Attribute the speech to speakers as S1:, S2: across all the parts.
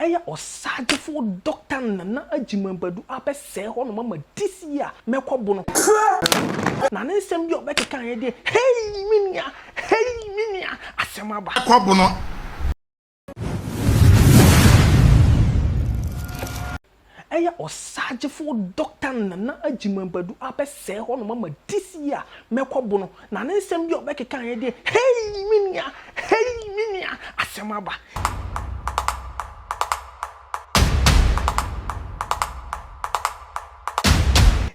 S1: Ɛyɛ Ɔsaagyefo Dɔkta Nana Agyimang Badu a bɛsɛɛ hɔnom ama this year a mɛkɔ bo no. Na ne nsɛm bi a ɔbɛkekaeɛ deɛ, hei me nua, hei me nua, asɛm aba. Kɔ bo no. Ɛyɛ ɔsaagyefo Dɔkta Nana Agyimang Badu abɛsɛɛ hɔnom ama this year a mɛkɔbo no, na ne nsɛm bi a ɔbɛkekaeɛ deɛ hei me nua, hei me nua, asɛm aba.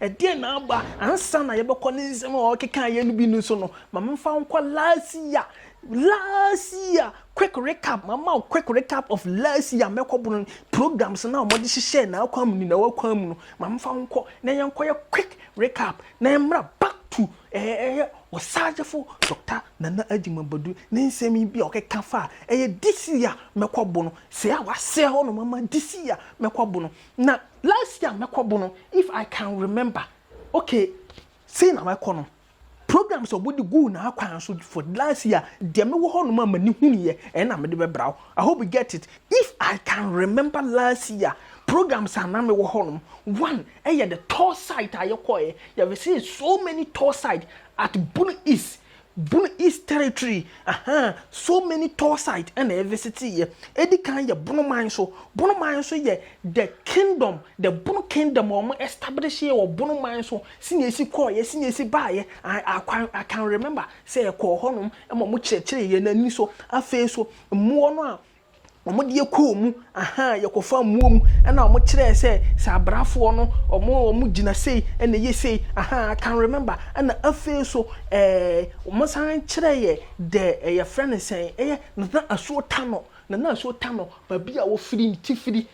S1: Ɛdeɛn na aba? Ansa na yɛbɛkɔ ne nsɛm a ɔkekaeɛ no bi no so no, ma memfa wo nkɔ last year Last year quick recap ma ma quick recap of last year mɛkɔ bono no programs na wɔde hyehyɛ na akwan mu ni na wakwan mu no ma mfa nkɔ na yɛnkɔyɛ quick recap na yɛmmra back to ɛyɛ ɛyɛ ɔsagyefo Dɔkta Nana Agyima Badu ne nsɛm yi bi a ɔkeka fa a ɛyɛ this year mɛkɔ bono sɛɛ a wasɛɛ hɔ nom ama this year mɛkɔ bono na last year mɛkɔ bono if I can remember okay sei na mɛkɔ no Programs a wɔde guu n'akwan so for the last year, deɛ mewɔ hɔnom a m'ani hunuiɛ, ɛno na mede bɛbra wo. I hope you get it. If I can remember last year programs a na mewɔ hɔnom, one ɛyɛ the tour site a yɛkɔeɛ, yɛvisitee so many tour site at Bono East, Bono East territory, ahaa, so many tour site ɛna yɛvisiteeɛ. Ɛdi kan yɛ Bono man so, Bono man so yɛ the kingdom, the Bono kingdom a wɔn establishee wɔ Bono man so, Sɛnea esi kɔeɛ, sɛnea esi baeɛ, I, I can, I can remember sɛ yɛkɔɔ hɔnom ma wɔkyerɛkyerɛɛ yɛn ani so. Afei nso, mmoɔ no a wɔde yɛ kɔɔ mu, ahaa, yɛkɔfaa mmoɔ mu, ɛnna wɔkyerɛɛ sɛ sɛ abrafoɔ no, wɔn, wɔgyina sei, ɛnna ɛyɛ sei, ahaa, I can remember. Ɛnna afei nso, ɛɛ, wɔsan kyerɛɛ yɛn the, ɛ, yɛfrɛ no sɛn, ɛyɛ Nana Asuo Tano, Nana Asuo Tano, baabi a wɔfiri, ne tifiri,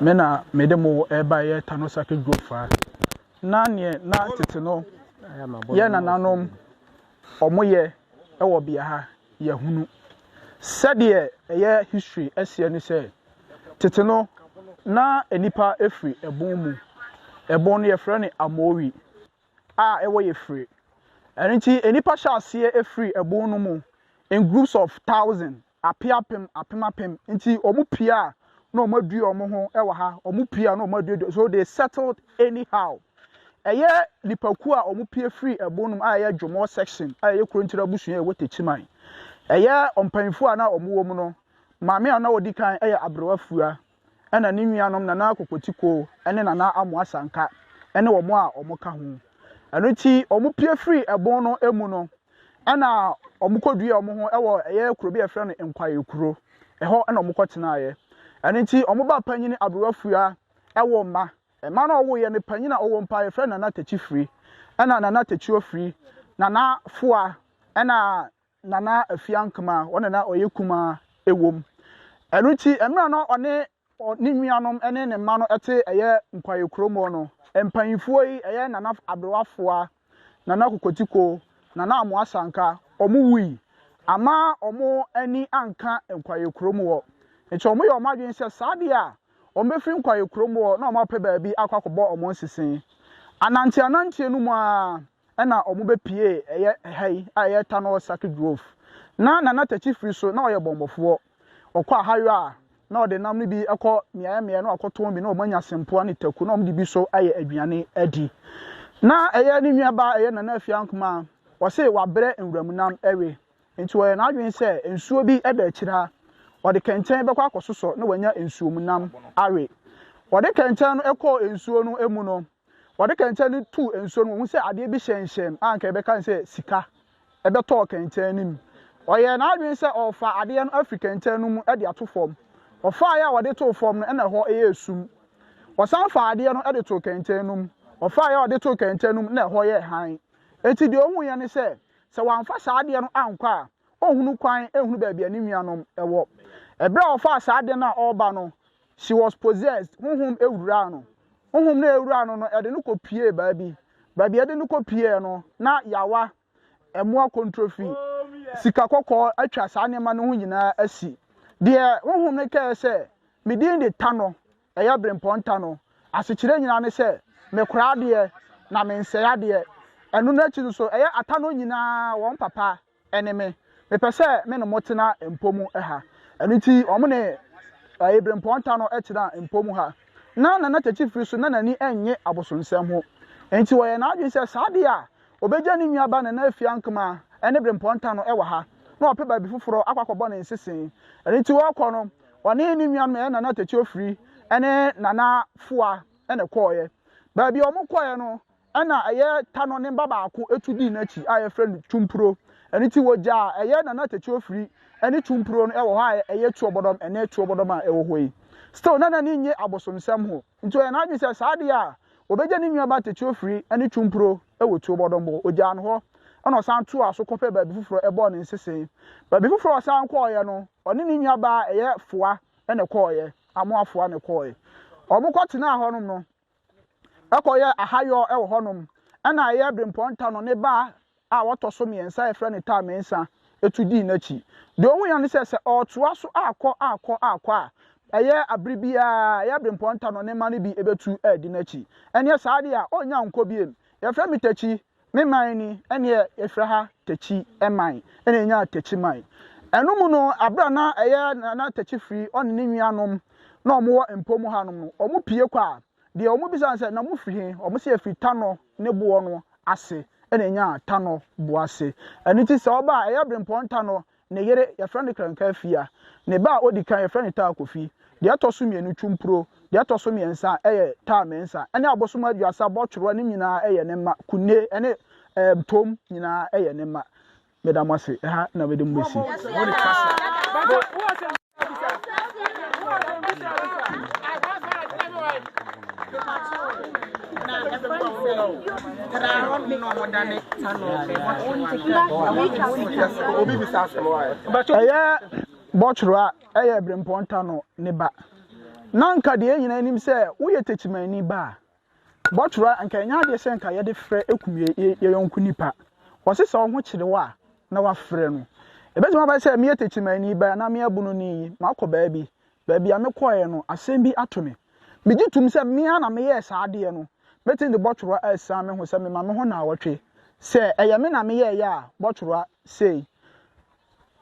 S2: Me na mede mo rebaeɛ Tano Circuit Group fa. Na neɛ na tete no yɛ nananom wɔyɛ wɔ bea ha yɛahunu. Sɛdeɛ ɛyɛ history aseɛ ne sɛ, tete no na nnipa firi ɛbon mu. Ɛbon no yɛfrɛ no Amowi a ɛwɔ Yefire. Ɛno nti nnipa hyɛ aseɛ firi ɛbon no mu in groups of thousand. Ape apem, apem apem. Nti ɔmo pie a na ɔmo adue ɔmo ho wɔ ha, ɔmo pie a na ɔmo aduedue, so they settled anyhow. Ɛyɛ nnipakuo a ɔmo pie firi ɛbon nom a ɛyɛ Dwomɔ section a ɛyɛ Kurontire abusua a ɛwɔ Techiman. Ɛyɛ ɔmpanyinfoɔ a na ɔmo wɔ mu no, maame a na ɔdi kan yɛ Aberewa Fua. ɛna ne nuanom Nana Akokotiko ne Nana Amoa Sanka ne wɔn a wɔka ho. Ɛno nti wɔpue firii ɛbon no mu no, ɛna wɔkɔduaa wɔn ho wɔ ɛyɛ kuro bi a yɛfrɛ no Nkwae Kuro. Ɛhɔ na wɔkɔtenaeɛ. Ɛno nti wɔn ba panyin Aberewa Fua wɔ mma. Mma no a ɔwoeɛ no, panyin a ɔwɔ mpa yɛfrɛ no Nana Takyifiri, ɛna Nana Takyiofiri, Nana Foa, ɛna Nana Afia Nkemaa, wɔn na na ɔyɛ kumaa wɔ mu. Ɛno nti, mmerɛ a na ɔne ne nuanom ne ne mma no te ɛyɛ Nkwaye kurom hɔ no, mpaninfoɔ yi, ɛyɛ Nana Aberewa Afua, Nana Kokotiko, Nana Amoa Sanka, wɔn wui. Amma wɔn ani anka Nkwaye kurom hɔ. Nti wɔn yɛɛ wɔn adwene sɛ saa deɛ a, wɔn bɛfiri Nkwaye kurom hɔ na wɔn apɛ baabi akɔ akɔbɔ wɔn nsese. Ananteɛ ananteɛ no mu ara, na wɔbɛpue ɛyɛ ɛha yi a ɛyɛ Tanor Saki Grove. Na Nana Takyi firi so na ɔyɛ bɔmmɔfoɔ. Ɔkɔ ahayɔ a, na ɔde nam no bi kɔ mmeaeɛ mmeaeɛ na wakɔtɔn bi na wɔanya sempoa ne taku na wɔde bi so ayɛ aduane adi. Na ɛyɛ ne nuabaa a ɛyɛ Nana Afia Nkumaa, ɔse wabrɛ nwuram nam we, nti ɔyɛɛ n'adwene sɛ nsuo bi da akyire ha, ɔde kɛntɛn bɛkɔ akɔsosɔ na wanya nsuom nam awe. Ɔde kɛntɛn no kɔɔ nsuo no mu no, Wɔde kɛntɛn no too nsuo no mu, ɔhuu sɛ adeɛ bi hyɛnhyɛn a anka yɛbɛka no sɛ sika bɛtɔɔ kɛntɛn no mu. Ɔyɛɛ n'adwene sɛ ɔrefa adeɛ no afiri kɛntɛn no mu de ato fam. Ɔfaeɛ a ɔde too fam no, na ɛhɔ yɛ sum. Ɔsan faa adeɛ no de too kɛntɛn no mu. Ɔfaeɛ a ɔde too kɛntɛn no mu, na ɛhɔ yɛ hann. Enti deɛ ɔhuiɛ ne sɛ, sɛ wamfa saa adeɛ no ankɔ a, ɔnhunu kwan nhunu baabi a ne nuanom wɔ. Ɛberɛ a ɔfaa saa adeɛ no a ɔreba no, She was possessed, honhom wuraa no. Honhom no a ewuraa no no, ɛde no kɔ piee baabi. Baabi a ɛde no kɔ piee no, na yawa, ɛmoa kontrofi, sika kɔkɔɔ atwa saa nneɛma no ho nyinaa asi. Deɛ honhom no kae sɛ, Me din de Tanɔ, ɛyɛ Berempɔn Tanɔ. Asekyerɛ nyinaa ne sɛ, mekora adeɛ, na mensɛe adeɛ. Ɛno no akyi nso, ɛyɛ Atanɔ nyinaa wɔn papa. Ɛne me. Mepɛ sɛ me ne mo tena mpɔ mu ha. Ɛno nti wɔn ne Abirempɔn ta no tenaa mpɔ mu ha. Ná Nana Kyekye Firi so na n'ani nnye abosonsɛm ho. Enti ɔyɛɛ n'adwene sɛ saa de a, obegya ne nuaba Nana Afie Ankema ne Birempɔn ta no wɔ ha, na wapɛ baabi foforo akɔ akɔbɔ ne nsese. Ɛno nti ɔrekɔ no, ɔne ne nuanom a ɛyɛ Nana Tekyɛ Ofiri ne Nana Foa na ɛkɔeɛ. Baabi a wɔkɔeɛ no, Ɛnna ɛyɛ ta no ne mma baako tu dii n'akyi a wɔfrɛ no Tumpuro. Ɛno nti wɔgyaa ɛyɛ Nana Tete Ofiri ne Tumpuro no wɔ hɔ a ɛyɛ Tuobodom ɛnnɛ Tuobodom a ɛwɔ hɔ yi. Still na n'ani nnye abosonsɛm ho nti ɔyɛ n'adwene sɛ saa adeɛ a ɔbɛgya ne nuaba Tete Ofiri ne Tumpuro wɔ Tuobodom hɔ. Ɔgyaa no hɔ ɛnna ɔsan toaa so kɔpɛɛ baabi foforɔ ɛbɔɔ ne nsese. Baabi foforɔ a ɔsan kɔeɛ no ɔne ne nuabaa ɛyɛ Foa na ɛkɔeɛ, Amoa Foa na ɛkɔeɛ. Wɔkɔtenaa hɔnom no kɔyɛɛ ahayɔ wɔ hɔnom. Ɛnna ɛyɛɛ berempɔn ta no, ne ba a ɔtɔ so mmiɛnsa a wɔfrɛ no Tar Mensah tu dii n'akyi. Deɛ ɔhuiɛ ne sɛ, sɛ ɔretoa so akɔ akɔ akɔ a, ɛyɛ bere biara, ɛyɛ berempɔn ta no, ne mma no bi bɛtu adi n'akyi. Ɛnneɛ saa deɛ a, ɔrennya nkɔ bio. Wɔfrɛ me Takyi, Ne man ni, ɛnneɛ yɛfrɛ ha Takyi man, ɛnna yɛnyaa Takyi man. Ɛno mu no, berɛ a na ɛyɛ na Takyi firi ɔne ne nuanom na wɔwɔ mpo mu hanom no, wɔpue kɔ a, deɛ wɔbisa no sɛ, na mofiri he? Wɔse yɛfiri Tanɔ ne boɔ no ase, ɛnna yɛnyaa Tanɔ boɔ ase. Ɛno nti sɛ wɔba a, ɛyɛ Brempɔn Tanɔ Ne yere, wɔfrɛ no Krankafia. Ne ba a odi kan, wɔfrɛ no Taakofi. Deɛ ɛtɔ so mmienu, Twumpuro. Deɛ ɛtɔ so mmiɛnsa yɛ Taamensa, ɛne Abosom Aduasa, Bɔtworoa, ne nyinaa yɛ ne mma. Kunne ne ɛɛm Tom nyinaa yɛ ne mma. Meda mo ase. Ɛha na mede mo bɛsi. ɛyɛ bɔtwerɛ a ɛyɛ berempɔn tano ne ba na nka deɛ nyina anim sɛ woyɛ takyimanni ba a Bɔtwera anka ɛnyɛ adeɛ sɛ anka yɛde frɛ kum yɛyɔnko nipa. Wɔse sɛ ɔho kyere wo a na wafrɛ no. Ɛbɛtumi aba sɛ meyɛ Techimanni ba anaa meyɛ Abononi yi, makɔ baabi. Baabi a mekɔeɛ no, asɛm bi ato me. Megye tom sɛ me ara na meyɛɛ saa adeɛ no. Mɛtumi de bɔtwera asiane me ho sɛ mema me ho nnawɔtwe. Sɛ ɛyɛ me na meyɛeɛ a, bɔtwera sei.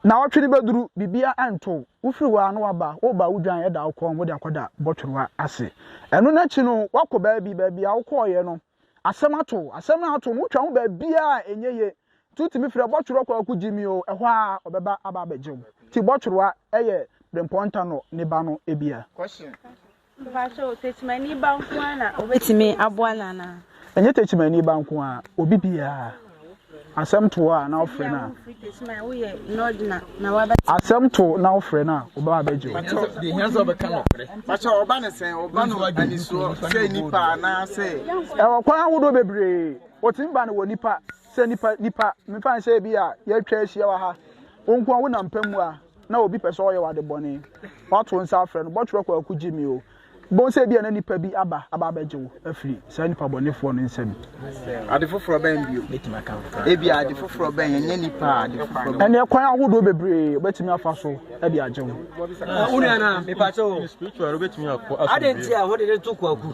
S2: Naawɔtwe no bɛduru, biribiara ɛnto wo. Wofiri hɔ ara na woaba, woreba a wodwan da wo kɔn mu de akɔda bɔtwerewa ase. Ɛno no akyi no, woakɔ baabi, baabi a wokɔeɛ no, asɛm ato wo. Asɛm no a ato wo no, wotwa ho baabiara a ɛnyɛ yie. Nti wotumi frɛ bɔtwerewa kwaku gye me o, ɛhɔ ara ɔbɛba aba abɛgye wo. Nti bɔtwerewa yɛ berempɔn ntano ne ba no bia.
S3: Mpakyɛw, Tekyimani ba nko ara na obetumi aboa no anaa? Ɛnyɛ Tekyimani ba
S2: nko ara, obi biara. Asɛm to hɔ a na wofrɛ no a. Asɛm to na wofrɛ no a, ɔbɛba abɛgye
S1: wo. Ɛwɔ kwan ahodoɔ
S2: bebree. Wɔtumi ba no wɔ nipa sɛ nipa nipa. Mefa no sɛ ebi a yɛatwa ahyia wɔ ha, wo nko ara wonam pɛ mu a. na obi pɛ sɛ ɔyɛ wo adebɔne, woato nsa afrɛ no, bɔtwerɛ kwaku gye me o. Bohu sɛ ebia na nipa bi aba aba abɛgye wo afiri saa nipa bɔnefoɔ no nsam. Ade foforɔ
S1: bɛn bio? Ebia ade foforɔ bɛn, ɛnyɛ nipa a, ade foforɔ bɛn? Ɛneɛ kwan ahodoɔ
S2: bebree wobɛtumi afa so de agye wo. Wo nua no a,
S4: mepakyɛ o, adɛn nti a wode no to kwaku?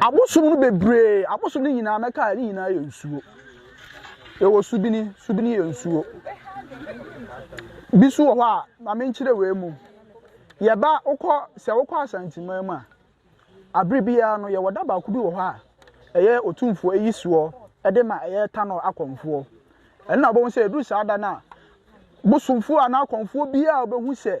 S2: Abosom no bebree, abosom no nyinaa mɛka a, ne nyinaa yɛ nsuo. Yɛwɔ subini, subini yɛ nsuo. Bi so wɔ hɔ a, ma menkyerɛ wei mu. Yɛba wokɔ sɛ wokɔ Asanteman mu a, abere biara no yɛwɔ da baako bi wɔ hɔ a, ɛyɛ otumfoɔ ayi soɔ de ma ɛyɛ tanɔ akɔmfoɔ. Ɛno na wobɛhu sɛ ɛduru saa da no a, bosomfoɔ anaa akɔmfoɔ biara a wobɛhu sɛ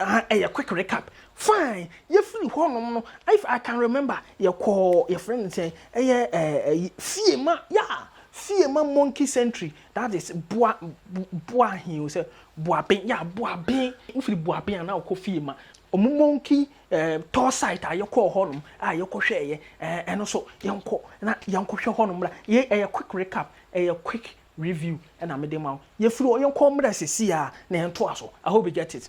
S1: Ah ɛyɛ quick recap fine yɛfiri hɔ nom no if I can remember yɛkɔɔ yɛfrɛ no sɛn ɛyɛ ɛyi fiema yeah fiema monkey century that is boa boa he o sɛ boaben yeah boaben wofiri boaben a na wokɔ fiema ɔmo monkey ɛɛ tour site a yɛkɔɔ hɔ nom a yɛkɔhwɛɛyɛ ɛɛ ɛno so yɛnkɔ na yɛnkɔhwɛ hɔ nom la yɛ ɛyɛ quick recap ɛyɛ quick Review na mede ma wo. Yɛfiri hɔ yɛnkɔ mmerɛ sɛsi a na yɛntoa so. I hope you get it.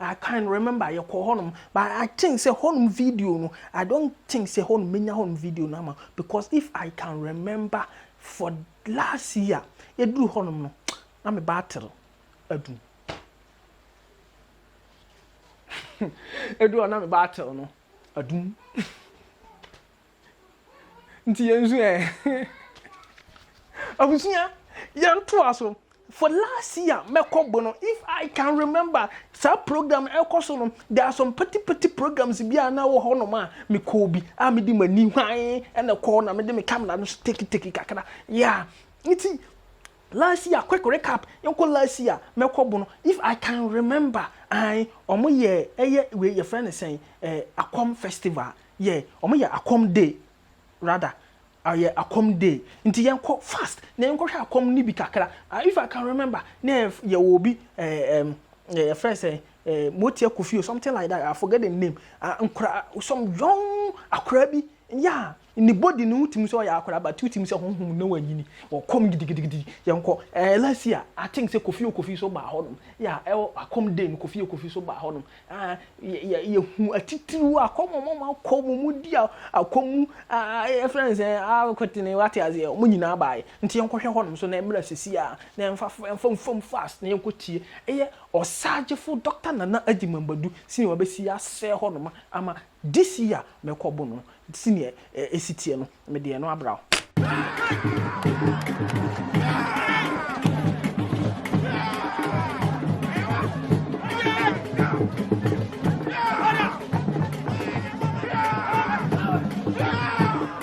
S1: I can remember yɛkɔɔ hɔnom but I think sɛ hɔnom video no I don't think sɛ hɔnom mɛnya hɔnom video no ama wo because if I can remember for last year yɛduru hɔnom no na me battery adum. Ɛduru hɔ na me battery no adum. Nti yɛn nso ɛ? Abusua, yɛntoa so. For last year mɛkɔ bo no, if I can remember, saa program no ɛkɔ so no, there are some petty petty programs bi a na ɛwɔ hɔnom a mekɔɔ bi a mede m'ani hwann na ɛkɔɔ na mede me camera no nso take take kakra. Yeah. Nti last year, quick recap, yɛnkɔ last year mɛkɔ bo no, if I can remember, ae, wɔyɛɛ ɛyɛ wei yɛfrɛ no sɛn, eh, Akwam Festival, Yɛ ɔmo yɛ akɔm day rather ɔyɛ akɔm day nti yɛn kɔ fast na yɛn kɔ hwɛ akɔm no bi kakra ah if I can remember na yɛ yɛ wɔ obi ɛɛ ɛm yɛ yɛ fɛ sɛ ɛɛ motia kofi or something like that I forget the name ah nkora some young akora bi yeah ne body no wotim sɛ ɔyɛ akora but wotim sɛ honhom no wɔ nyini wɔ kɔm gidigidigidi yɛn kɔ ɛɛ last year I think sɛ kofi o kofi so baa hɔ nom yeah ɛwɔ akɔm day no kofi o kofi so baa hɔ nom Ah, yɛ, yɛ, yɛhu atitiriw a, kɔm ɔma ma kɔ mu, mu di akɔ mu, ah, ah, yɛfrɛ no sɛ akwetene, wate aseɛ, wɔn nyinaa baeɛ. Nti yɛnkɔhwɛ hɔnom so na mmra sisi a, na yɛmfa, yɛmfa mfam fast na yɛnkɔtie. Ɛyɛ Ɔsaagyefo Dɔkta Nana Agyemang Badu senior wabɛsi asɛ hɔnom ama This year mɛkɔ bo no senior esi teɛ no me deɛ no abra o.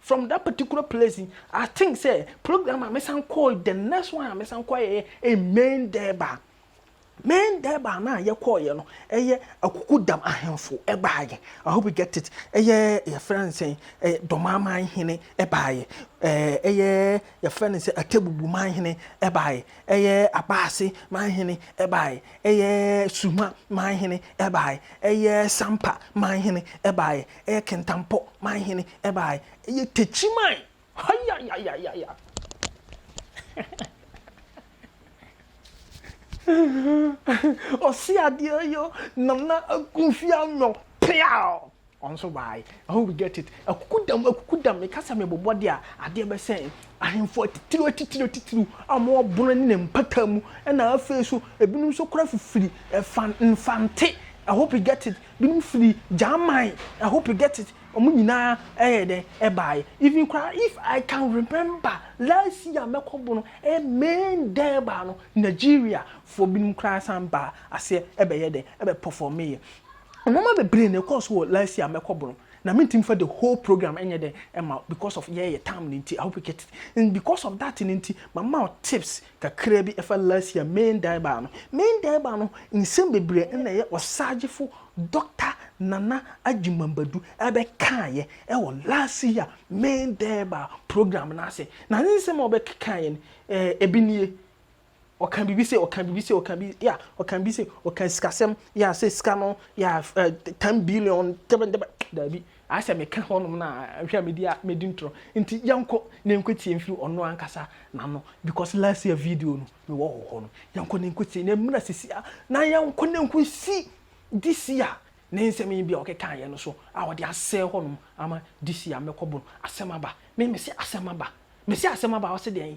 S1: From that particular place yi I think sɛ program a me san kɔɔ yi the next one a me san kɔ yɛyɛ in main dɛɛba main dɛɛba na yɛ kɔɔ yɛ no ɛyɛ akuku dam ahemfo ɛbaa yɛ I hope you get it ɛyɛ yɛfrɛ no sɛn ɛyɛ dɔmaaman hene ɛbaa yɛ ɛɛ ɛyɛ yɛfrɛ no sɛ atebubu man hene ɛbaa yɛ ɛyɛ abaase man hene ɛbaa yɛ ɛyɛ suma man hene ɛbaa yɛ ɛyɛ sampa man hene ɛbaa yɛ Ɛyɛ kentampɔ man hene ɛbaae. Ɛyɛ tekyi man hayayayaya. Ɔse adeɛ yo Nana Akunfie Anwɔ peaw ɔnso baae. I hope you get it. Akukudam akukudam meka sɛ mebobɔ de a adeɛ bɛsɛ yɛn. Ahemfo atitiriw atitiriw atitiriw a wɔn ɔbono ne ne mpata mu ɛna afei so ebinom nso kora fifiri ɛfa nfante. I hope you get it. binom firi German I hope you get it wɔn nyinaa ɛyɛ dɛn ɛbaeɛ even koraa if I can remember last year mɛkɔ bo no ɛyɛ May dɛn ɛbaa no Nigeria foɔ binom koraa san baa aseɛ ɛbɛyɛ dɛn ɛbɛ perform yɛ nneɛma bebree na ɛkɔɔ so wɔ last year mɛkɔ bo no na mentumi fa the whole program ɛnyɛ dɛn ɛma because of yɛyɛ tam no nti I hope you get it and because of that no nti mama wo tips Kakra bi fa last year Main Daiba no. Main Daiba no nsɛm bebree na ɛyɛ ɔsaagyefo Dɔkta Nana Agyemang Badu bɛkaeɛ wɔ last year Main Daiba program no ase. Na ne nsɛm a ɔbɛkekaeɛ no, ebi nie, ɔka biribi sei, ɔka biribi sei, ɔka biribi, yeah, ɔka biribi sei, ɔka sikasɛm, yeah, sɛ sika no, yeah, ten billion, dɛbɛn dɛbɛn, daabi. Ayɛ sɛ meka hɔnom no a, hwɛ a medi a medi ntorɔ. Nti yɛnkɔ na yɛnkɔtie mfiri ɔno ankasa n'ano because last year video no mewɔ wɔ hɔ no. Yɛnkɔ na yɛnkɔtie na ɛmmra sisi a na yɛnkɔ na nkɔsi this year ne nsɛm yi bi a ɔkekaeɛ no so a ɔde asɛe hɔnom ama this year mɛkɔbo no. Asɛm aba. Me mese asɛm aba. Mese asɛm aba a ɔse deɛn?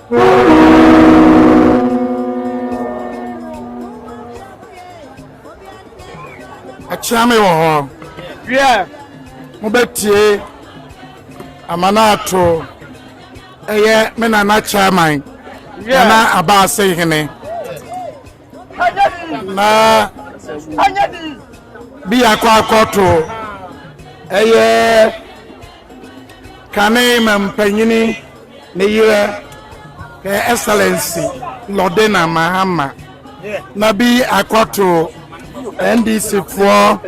S5: akyea me wɔ hɔ wiɛ mobɛtie amanaato ɛyɛ me nana chairman nana abaase hene na bi akɔ akɔto ɛyɛ kane ma mpanyini ne yerɛ her excellency lɔdena mahama na bi akɔto ndc foɔ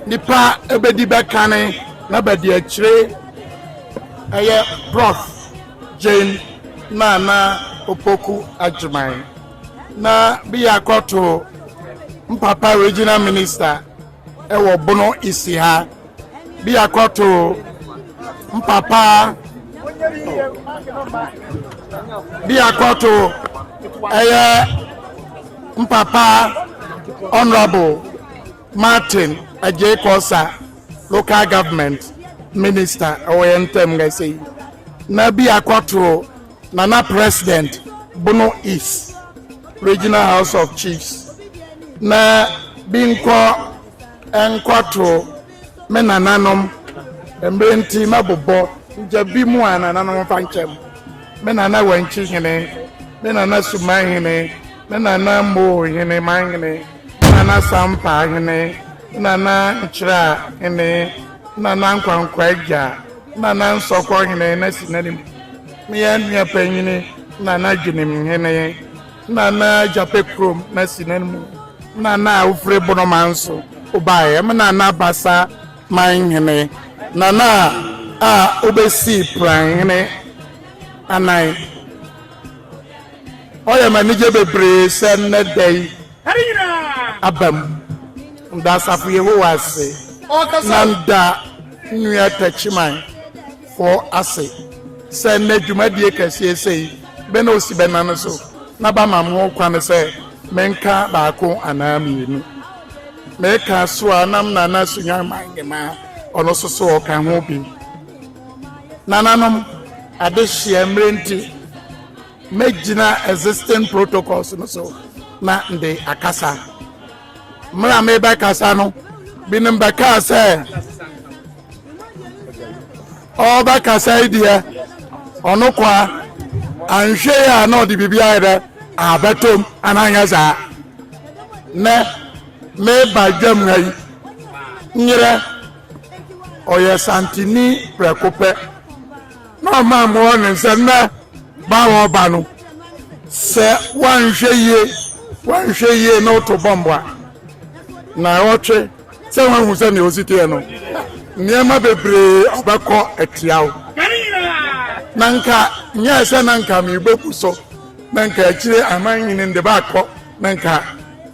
S5: nipa ɛbɛdi bɛkane na bɛde akyire ɛyɛ prof Jane Nana Opoku Agyemang na bia akɔto mpapa regional minister ɛwɔ Bono Isiha bia akɔto mpapa bia akɔto ɛyɛ mpapa honorable Martin Agyei Kosa local government minister ɛwɔ yɛn ntɛm nga ɛsɛ yi na bi akɔtoro nana president bono east regional house of chiefs na bi nkɔ nkɔtoro me nananom mmerɛ nti mɛbobɔ nkyɛ bi mu a nananom fa nkyɛm me nana wankyi hene me nana suman hene me nana mmoo hene man hene Nana Sampaa hene, Nana Nkyerɛ a hene, Nana Nkwankwa agya, Nana Nsɔkɔ hene na si n'anim. Me yɛ nua panyini, Nana Dwenem hene, Nana Gyapɛ kurom na si n'anim. Nana a wofiri Bonoma nso wobaeɛ, me Nana Basa man hene, Nana a wobɛsii Pran hene anan, Ɔyɛ me anigye bebree sɛ nnɛ da yi abam. Meda Asafo Yehowa ase na meda Nua Takyiman fo ase sɛ nnɛ dwumadie kɛseɛ sei bɛ na ɔsi bɛnane so na bamam ho kwane sɛ menka baako anaa mmienu. Meka so a nam Nana Sunyani Mangimaa ɔno nso so ɔka ho bi. Nananom, adehyeɛ mmerɛ nti, mɛgyina existing protocols no so na mede akasa. Mmerɛ a mebɛkasa no, binom bɛkaa sɛ ɔbɛkasa yi deɛ ɔno kwa anhwɛ yi a na ɔde biribi ayɛ dɛ abɛtom ananyɛ saa nɛ meba dwam ha yi nyerɛ ɔyɛ santini prɛko pɛ na ɔma mmoa ne nsa na ba a ɔba no sɛ wanhwɛ yie wanhwɛ yie na ɔto bɔmbo a na ɔtwe sɛ wahu sɛ nea ɔsi teɛ no nneɛma bebree ɔbɛkɔ atia wo na nka nyɛ sɛ na nka mebɛbu so na nka akyire aman nyini de baakɔ na nka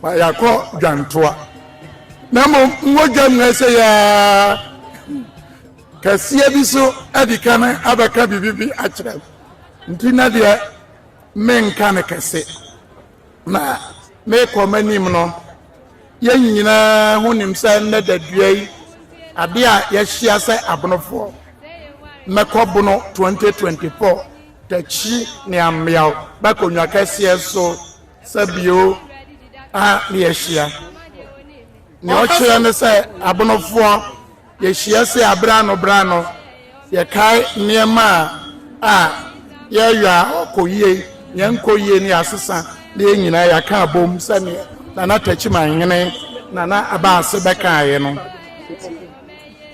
S5: yɛakɔ dwantoa na mmom mogya mu ɛsɛ yaa kɛseɛ bi so adi ka no abɛka biribi bi akyerɛ m nti na deɛ menka no kɛse na mekɔ m'anim no yɛn nyinaa ho nim sɛ nnɛ dadua yi ade a yɛahyia sɛ abonofoɔ mɛkɔ bono 2024 takyi ne ameaw bɛkɔnwa kɛseɛ so sɛ bio a ne yɛahyia nea ɔkyerɛ ne sɛ abonofoɔ yɛhyia sɛ aberɛ ano berɛ ano yɛkae nneɛma a yɛyɔ a ɔkɔ yie yɛnkɔ yie ne asesa ne yɛn nyinaa yɛaka abom sɛdeɛ nana takyimanhene nana abaase bɛkaeɛ no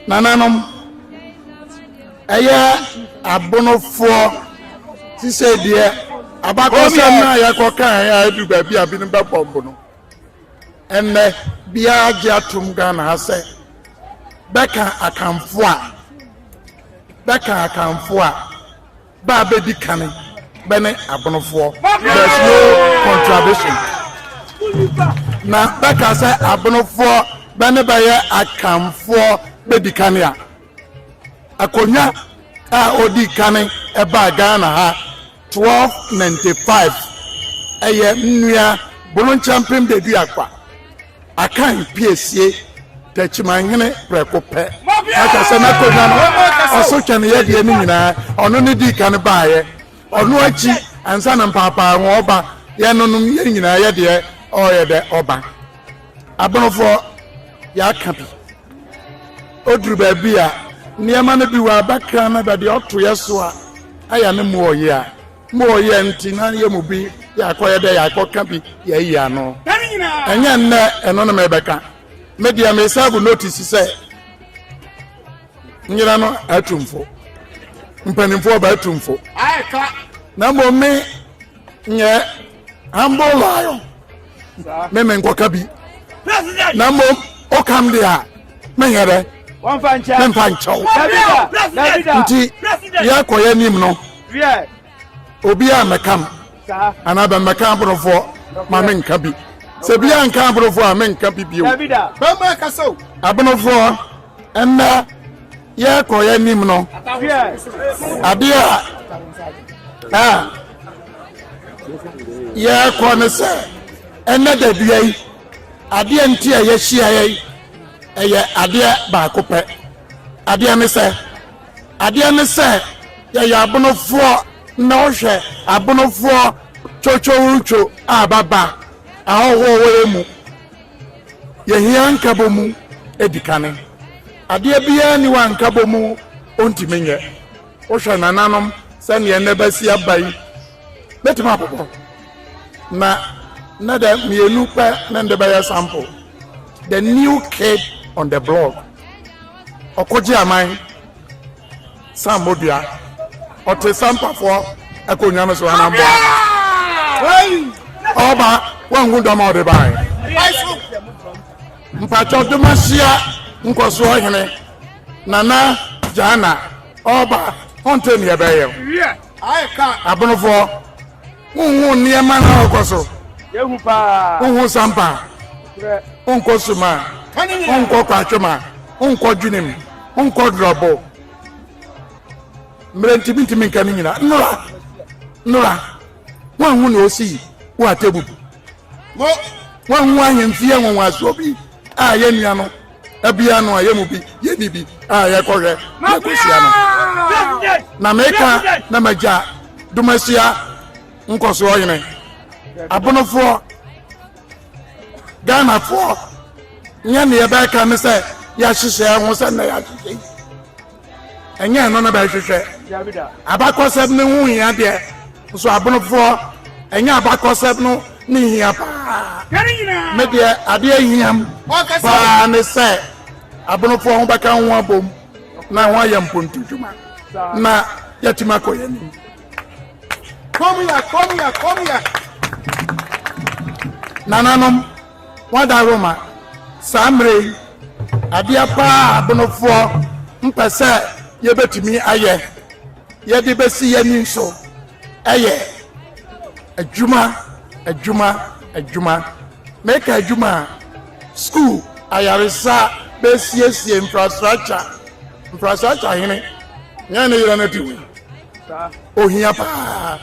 S5: nananom ɛyɛ abonofoɔ te sɛ deɛ abakɔsɛm no a yɛkɔkaeɛ a ɛdu baabi a binom bɛbɔmbo no ɛnnɛ biara gye atom ghana ha sɛ bɛka akamfo a bɛka akamfo a ba a bɛdi kan bɛne abonofoɔ there's no contradiction na bɛka sɛ abonofoɔ bɛne bɛyɛ akanfoɔ bɛdi kan a akonnwa a ɔdi kan ɛbaa ghana ha 1295 ɛyɛ nnua boronkyɛmpem de duakwa Akan pie sie Takyimanhene prɛko pɛ, na kyɛ sɛ n'akonnwa no ɔso twɛneyɛdeɛ no nyinaa ɔno ne dii kan baeɛ. Ɔno akyi, ansa na mpaapaaho ɔba, yɛnonom yɛn nyinaa yɛ deɛ ɔreyɛ dɛ ɔba. Abonofoɔ yɛaka bi. Ɔduru baabi a, nneɛma no bi wɔ abakra no bɛdeɛ ɔto yɛ so a, ayɛ ne mmoɔ ɔyea. Mo yɛ nti na yɛ mu bi yɛ akɔyɛ dɛ yɛ akɔka bi yɛ ayi ano. Ɛnyɛ nnɛ ɛno na mɛbɛka. Me deɛ me sɛbo notice sɛ nyina no atumfo. Mpanimfoɔ ba atumfo. Na mmom me nyɛ. ambo lion me me nkɔka bi na mmom ɔkam de a menyɛ dɛ memfa nkyɛw nti yɛakɔyɛ anim no obi a mɛkam anaa bɛmmɛka aborofoɔ ma menka bi sɛ bi a nka aborofoɔ a menka bi bio aborofoɔ ɛnna yɛkɔyɛ anim no adeɛ a yɛrekɔ ne sɛ ɛnɛ da dua yi adeɛ nti a yɛahyiaeɛ yi ɛyɛ adeɛ baako pɛ adeɛ ne sɛ adeɛ ne sɛ yɛyɛ abonofoɔ na wohwɛ abonofoɔ twotwowotwo a baba ahɔhoɔ wɔ yɛ mu yɛhia nkabɔ mu edi kane adeɛ biara ni wɔ nkabɔ mu ɔntumi nyɛ Wohwɛ nananom sɛdeɛ nnɛ bɛsi aba yi, bɛtumi abobɔ na na dɛ mmienu pɛ ne de bɛyɛ sample the new kid on the block ɔkɔgye aman san mmɔdua ɔte sampafoɔ akonnwa no so anamboa ɔba wanhu dɔm a ɔde bae mpakyɛ ɔdemahyia nkɔsoɔ hene Nana Gyana ɔba ɔnte nea ɛbɛyɛ abonofoɔ wonhu nneɛma na ɔkɔ so wonhu sampa wonkɔ suma wonkɔ kwatwema wonkɔ dwenem wonkɔ dorɔbo mmerɛ ntimi ntimi nka no nyina nnora nnora woanhu ne ɔsii wo atɛbu woanhu ahemfie nwanwasoɔ bi a yɛnnua no Ebia no a yɛn mu bi yɛnni bi a yɛkɔhwɛ na yɛkɔhyia no. Na meka na magya Domasia nkɔsoɔ hene, abonofoɔ, Ghanafoɔ, nyɛ ne yɛbɛka ne sɛ yɛahyehyɛ ho sɛ na yɛahyehyɛ yi. Ɛnyɛ ɛno na bɛhwehwɛ. Abakɔsɛm no ho hia deɛ, nso abonofoɔ, ɛnyɛ abakɔsɛm no ne hia paa. Me deɛ adeɛ hiam paa ne sɛ abonofoɔ ho bɛka ho abom na ho ayɛ mpontu dwuma na yɛatumi akɔ yɛn anim. Nananom Wɔada Roma saa mmerɛ yi adeɛ paa a abonofoɔ mpɛ sɛ yɛbɛtumi ayɛ yɛde bɛsi yɛn ani so yɛ adwuma adwuma adwuma meka adwuma a sukuu ayaresa bɛsiesie infrastructure infrastructure hene yɛn ne yerɛ no adi wei ohia paa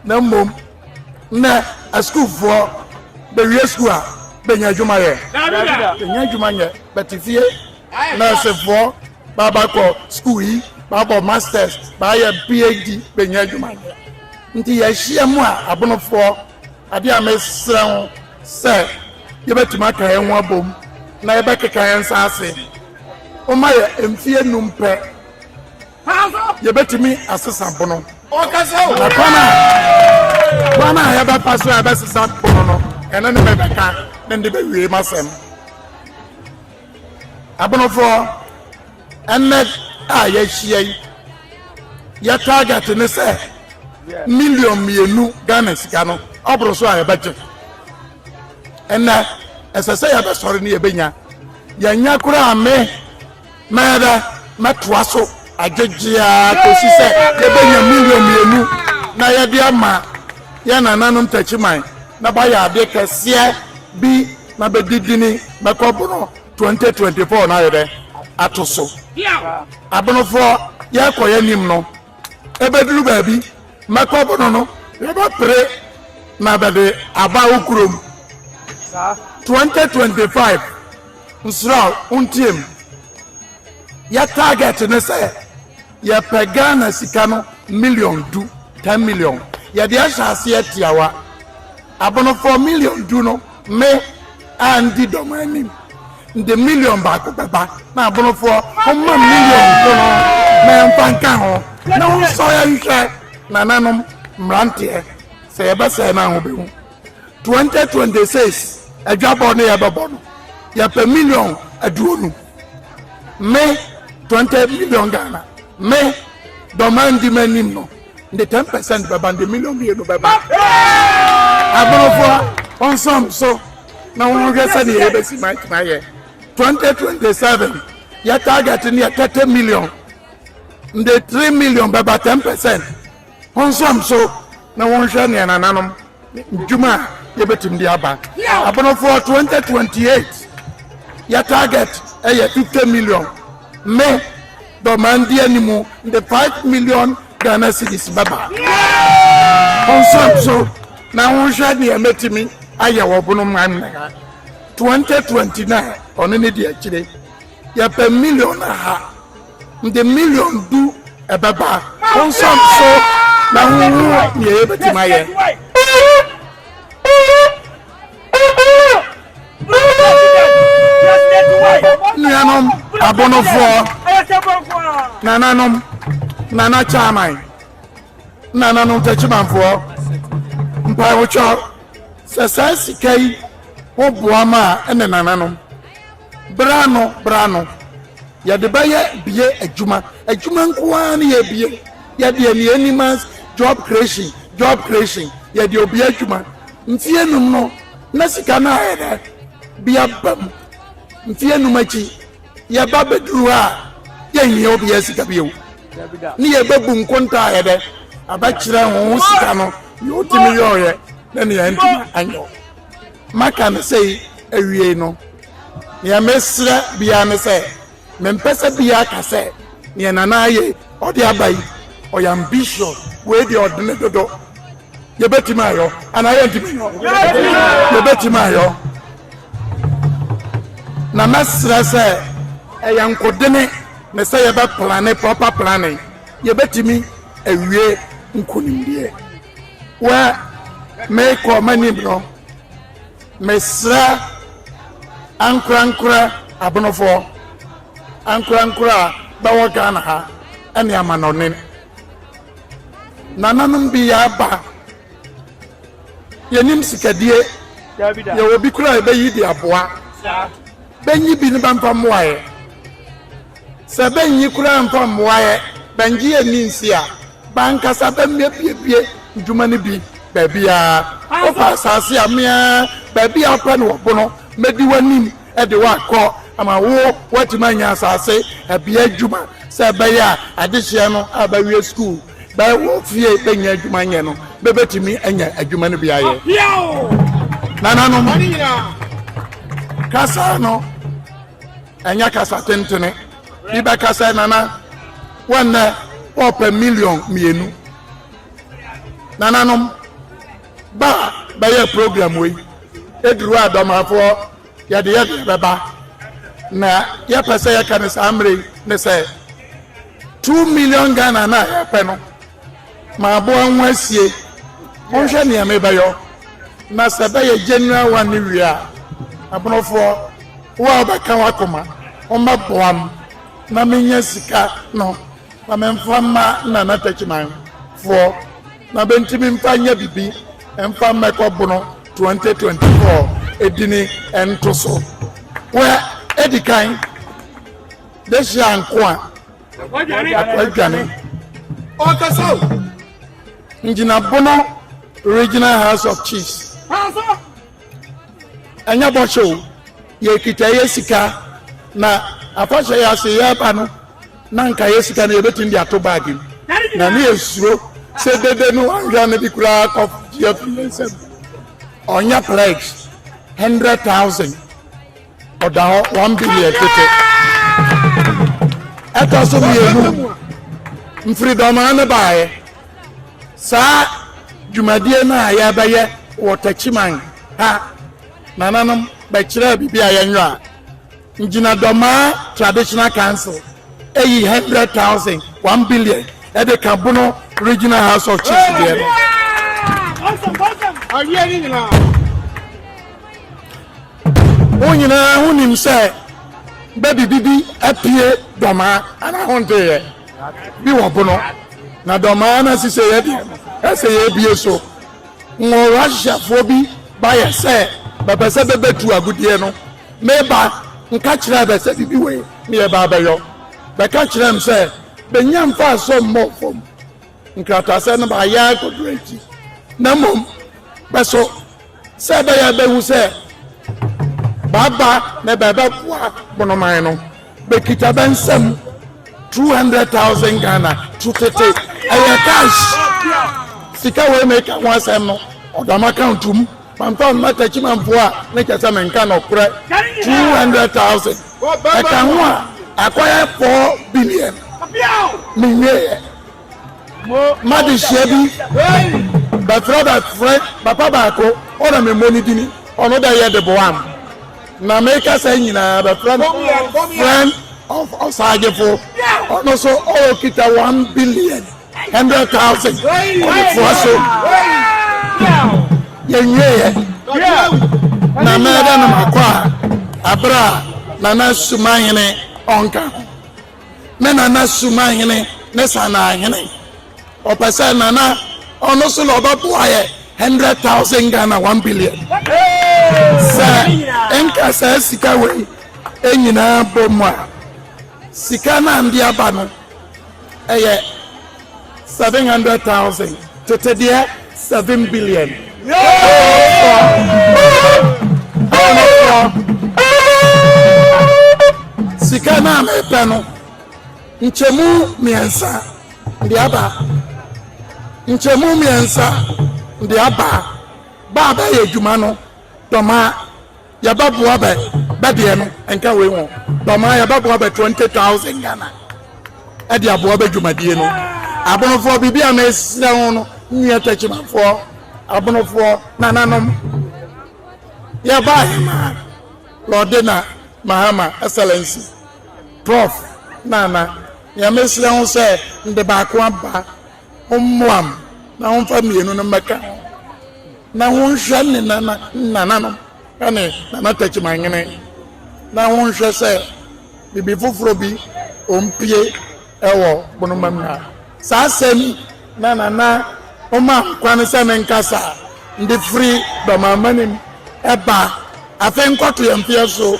S5: na mmom Nnɛ asukuufoɔ bɛwie sukuu a, bɛnya adwuma yɛ? Bɛnya adwuma nyɛ, bɛte fie. Nɛɛsefoɔ baaba kɔ sukuu yi, baabɔ masters, baayɛ PhD, bɛnya adwuma nyɛ. Nti yɛahyia mu a, abonofoɔ, adeɛ a mesrɛ ho sɛ yɛbɛtumi aka yɛn ho abom na yɛbɛkeka yɛn nsa ase. Momma yɛ mfeɛ nnum pɛ yɛbɛtumi asesa bono. Na kwan a kwan a yɛbɛfa so a yɛbɛsesa bono no, ɛno ne mɛbɛka ne de bɛwie m'asɛm. Abonofoɔ, ɛnnɛ a yɛahyia yi, yɛ target ne sɛ million mmienu Ghana sika no ɔboro so a yɛbɛgye. Ɛnnɛ, ɛsɛ sɛ yɛbɛsɔre ne yɛbɛnya. Yɛnya koraa me Mɛbɛ, mɛtoa so agyegye ara kɔsi sɛ yɛbɛnya million mmienu na yɛde ama yɛn nananom takyiman na bɛayɛ adeɛ kɛseɛ bi na bɛdi dini bɛkɔ bono 2024 no ayɛdɛ ato so. Abonofoɔ yɛkɔ yɛnim no ɛbɛduru baabi mɛkɔ bono no yɛbɛpere na bɛde aba wo kurom 2025. Nsura wo ntie me. Yɛ target ne sɛ yɛpɛ Ghana sika no million du, ten million. Yɛde ahyɛ aseɛ tiawa. Abonofoɔ million du no me a ndi dɔm anim de million baako bɛba na abonofoɔ homma million ko no na yɛmfa nka ho na wonsɔ yɛnhwɛ nananom mmeranteɛ sɛ yɛbɛsɛe no a wobɛhu. 2026 adwabɔ no yɛbɛbɔ no yɛpɛ million aduonu me 20 million ghana me dɔma ndi m'anim no de 10 percent bɛba de million mmienu bɛba aborofoɔ ɔnsɔm so na wɔhwɛ sɛdeɛ yɛbɛsi ma atumi ayɛ 2027 yɛ target no yɛ 30 million de 3 million bɛba 10 percent Ɔnsam so na wɔnhwɛ nea nananom ndwuma a yɛbɛtumi de aba. Abonofoɔ 2028 yɛ target ɛyɛ 50 million me dɔmaa ndi animu de 5 million Ghana cedis bɛba. Ɔnsam so na wɔnhwɛ nea mɛtumi ayɛ wɔ bonoman 2029 ɔno ne di akyire. Yɛpɛ million aha, mede million du ɛbɛba. Wo nsa so na ho hu nea yɛbɛtumi ayɛ. nuanom abonofoɔ nananom nana chairman nananom tɛkyimanfoɔ mpaewotwa sɛ saa sika yi ho boa ma a ɛne nananom Bere ano bere ano, yɛde bɛyɛ bie adwuma. Adwuma nko ara ne yɛbie. Yɛde ani ani mas job creation job creation. Yɛde obie adwuma. Mfeɛ num no, na sika no ayɛ dɛ bi aba mu. Mfeɛ num akyi, yɛba bɛduru hɔ a, yɛnhia obiara sika bio. Ne yɛbɛbu nkonta ayɛ dɛ abɛkyerɛ ho sika no, nea ɔtumi yɔeɛ ne nea antumi anyɔ. Maka no sei awiei no, nea mesrɛ biara ne sɛ, mempɛ sɛ biara ka sɛ nea Nana ayɛ yi, ɔde aba yi, ɔyɛ ambitious, wei deɛ ɔde ne dodo. Yɛbɛtumi ayɔ anaa yɛntumi nyɔ? Yɛbɛtumi ayɔ. Na mɛsrɛ sɛ ɛyɛ nkodene ne sɛ yɛbɛplane proper planning, yɛbɛtumi awie nkonimdie. wɛ mekɔ m'anim no mesrɛ ankorankorɛ abonofoɔ ankorankorɛ a bɛwɔ ghana ha ɛne amanɔne nananom bi yɛaba yɛnim sikadie yɛwɔ bi kora a ɛbɛyi de aboa bɛnyi bi no bɛmfa mmoaeɛ Sɛ bɛnnye koraa mfa mmoaɛ bɛnngye anni nse a, bɛankasa bɛmmɛbuebue ndwuma no bi baabiaa. Wofa asaase a, me ara baabiaa wopɛ no wɔ Bono, mɛdi w'anim de wo akɔ ama wo woatumi anya asaase bea adwuma sɛ ɛbɛyɛ a adehyeɛ no a bɛawie sukuu bɛwɔ fie bɛnnya adwuma nyɛ no, bɛbɛtumi anya adwuma no bi ayɛ. Nananom kasa no. Ɛnyɛ kasa tentene. Bi bɛka sɛ, Nana, wo nnɛ wɔrepɛ million mmienu. Nananom, ba a bɛyɛ program wei, ɛduru a dɔmafoɔ yɛde yɛdeɛ bɛba. Na yɛpɛ sɛ yɛka no saa mmerɛ yi ne sɛ, two million Ghana no a yɛrepɛ no, M'aboa ho asie, monhwɛ nea mebɛyɔ, na sɛ ɛbɛyɛ General One no wie a, Abonofoɔ, wo a wobɛka w'akoma, wommɛboam na mennya sika no na memfa mma Nana Takyiman foɔ na bɛntumi mfa nyɛ bibi mfa mmɛkɔ Bono 2024 dini ntoso. Wɛ, edikan, Dehye Ankoa. akwadwane ɔkasa o ngyina bono regional house of chiefs ɛnyɛ bɔhyɛ o yɛkita yɛ sika na afahyɛ yɛ ase yɛba no na nka yɛ sika no yɛbɛtumi de ato baage mu na ne yɛsuro sɛ dede no anhwɛ no bi koraa kɔgye afiri yɛ nsɛm ɔnyɛ pledge 100000 Ɔda hɔ one billion tete. Ɛtɔ so mmienu, mfiridɔmaa no baeɛ. Saa dwumadie no a yɛbɛyɛ wɔ Takyiman ha, nananom bɛkyerɛɛ biribi a yɛnyɔ a, Ngyinadɔmaa Traditional Council ayi hundred thousand, one billion ɛde ka Bono Regional House of Chiefs deɛ no. Mo nyinaa ho nim sɛ bɛ de biribi apue dɔmaa anaa honteeɛ bi wɔ pono, na dɔmaa no asiseeɛ deɛ no, ɛsɛ yɛbue so. Wɔ Russiafoɔ bi baeɛ sɛ bɛpɛ sɛ bɛbɛtu agudeɛ no, meba nka kyerɛɛ bɛ sɛ biribi wei ne yɛba abɛyɔ. Bɛka kyerɛɛ me sɛ bɛnnya mfasoɔ mmɔɔ fam. nkrataasɛm no baayɛ ara kɔduru akyi na mmom bɛso sɛ ɛbɛyɛ bɛhu sɛ baaba na bɛbɛboa bonoman no bɛkita bɛ nsɛm 200,000 ghana to tete ɛyɛ cash sika wei meka ho asɛm no ɔdam account mu mamfa mma takyimanfoɔ a ne kyɛ sɛ menka nɔkorɛ 200,000 ɛka ho a akɔyɛ 4 billion menwieɛ M'adesua bi bɛfrɛ bɛfrɛ papa baako ɔna memmɔ ne dini ɔno dɛ yɛ de boam na meka sɛ nyinaa bɛfrɛ no friend of ɔsagyefo ɔno so ɔwɔ kita one billion hundred thousand ɔtoa so yɛnwieɛ na mɛdɛ no makɔ a abere a nana sumahene ɔnka ho ne Nana Sumahene ne Sanahene. Ɔpɛ sɛ Nana ɔno so na ɔbɛboa yɛ hundred thousand Ghana one billion. Sɛ nka saa sika wei nyinaa bɔ mu a, sika no a nde aba no ɛyɛ. seven hundred thousand tete deɛ seven billion. sika no a mepɛ no nkyɛmu mmiɛnsa de aba nkyɛmu mmiɛnsa de aba baa bɛyɛ adwuma no dɔma Yɛbɛboa bɛ bɛ deɛ no nka wei ho dɔmaa yɛbɛboa bɛ twenty thousand Ghana ɛde aboa bɛ dwumadie no abonofoɔ biribi a mesrɛ ho no nnuɛ takyimafoɔ abonofoɔ nananom yɛbaa yɛ maa lɔde na mahama excellency prof nana yɛmesrɛ ho sɛ nde baako aba Mommoa no na wɔmfa mmienu no mmɛka ho, na wɔnhwɛ ne nana nananom ne n'anatakyimanyene, na wɔnhwɛ sɛ biribi foforɔ bi ɔmpie wɔ bonoma mu a. Saa asɛm yi na nana ɔma kwan sɛ ne nkasa de firi dɔmammanim ba afei nkɔtoyɛ mfeɛ so.